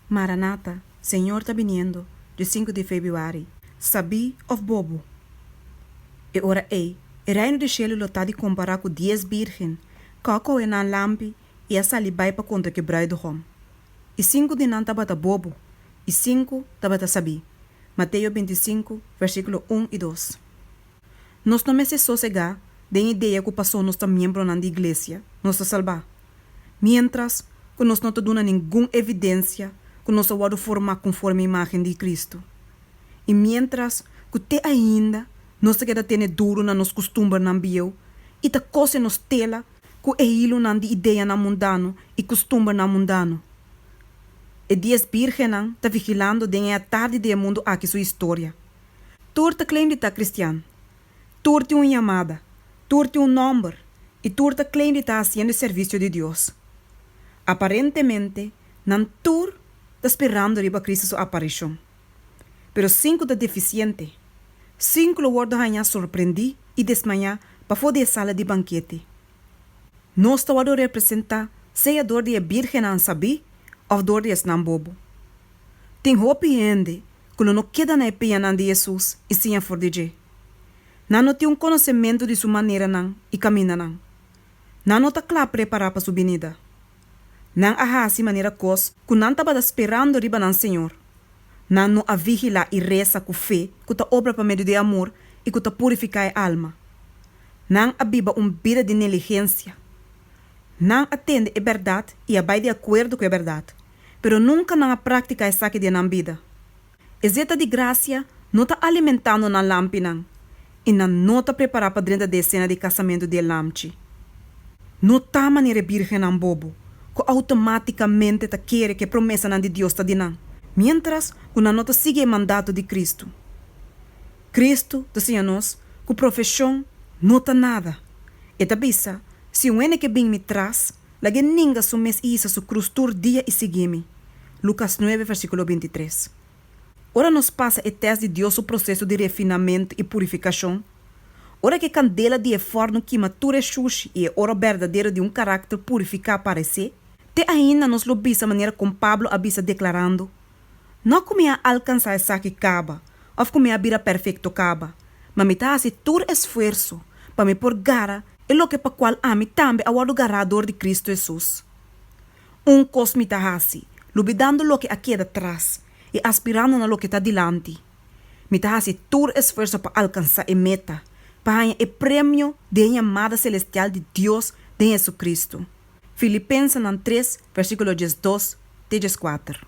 Maranata, Señor ta biniendo, di sinku di Febiuari. Sabí òf bobu. E ora ei, e Reino di shelu lo ta di kompará ku dies bírgen, ku a kohe nan lampi i a sali bai pa kontra ke bruidugom. I sinku di nan tabata bobu, i sinku tabata sabí. Mateo bintisinku, versíkulo un i dos. Nos no mester sosegá den idea ku pasó nos ta miembronan di iglesia, nos ta salbá. miéntras ku nos no ta duna ningun evidensia ku nos a wòrdu formá konforme imágen di Kristu i miéntras ku te ainda nos ta keda tene duru na nos kustumbernan bieu i ta kose nos tela ku e hilunan di ideanan mundano i kustumbernan mundano. E dies bírgennan ta vigilando den e atardi di e mundu aki su historia. Tur ta claim di ta kristian, Tur tin un yamada, tur tin un nòmber i tur ta klei di ta hasiendo e servisio di Dios. Aparentemente nan tur ta sperando riba Cristo su aparishon. Pero sinku ta defisiente, sinku lo wòrdu hañá sorprendí i desmayá pafó di e sala di bankete. Nos ta wòrdu representá sea dor di e bírgennan sabí òf dor di esnan bobo. Tin hopi hende ku lo no keda na e pianan di Hesus i siña for di dje. Nan no tin un konosementu di su maneranan i kamindanan. Nan no ta kla prepará pa su binida. Nan a hasi manera kos ku nan tabata sperando riba nan Señor. Nan no a vigilá i resa ku fe ku ta obra pa medio di amor i ku ta purifiká e alma. Nan a biba un bida di neligensia. Nan a tende e bèrdat i a bai di akuerdo ku e bèrdat. pero nunka nan a práktika esaki den nan bida. Esei ta di grasia no ta alimentando nan lampinan i nan no ta prepará pa drenta d'e sena di kasamentu di e lamchi. No ta manera e bírgennan bobo ku outomátikamente ta kere ku e promesanan di Dios ta di nan miéntras ku nan no ta sigui e mandato di Kristu. Kristu ta siña nos ku profeshon no ta nada. E ta bisa, Si un hende ke bin mi tras, Lagu'é ninga su mes i hisa su krus tur dia i sigui mi. Lukas nuebe versíkulo binti tres. Ora nos pasa e tèst di Dios su proseso di refinamentu i purifikashon, ora ku e kandela di e fòrnu kima tur e shushi i e oro berdadero di un karakter purifiká aparesé, te ainda nos lo bisa manera kon Pablo a bisa deklarando, No ku mi a alkansá esaki kaba òf ku mi a bira perfekto kaba, ma mi ta hasi tur esfuerso pa mi por gara e loke pa kual ami tambe a wòrdu gará dor di Kristu Hesus. Un kos mi ta hasi, lubidando loke a keda tras i aspirando na loke ta dilanti. Mi ta hasi tur esfuerso pa alkansá e meta, pa haña e premio di e yamada selestial di Dios den Hesukristu. Filipensenan tres, versíkulo diesdos te dieskuater.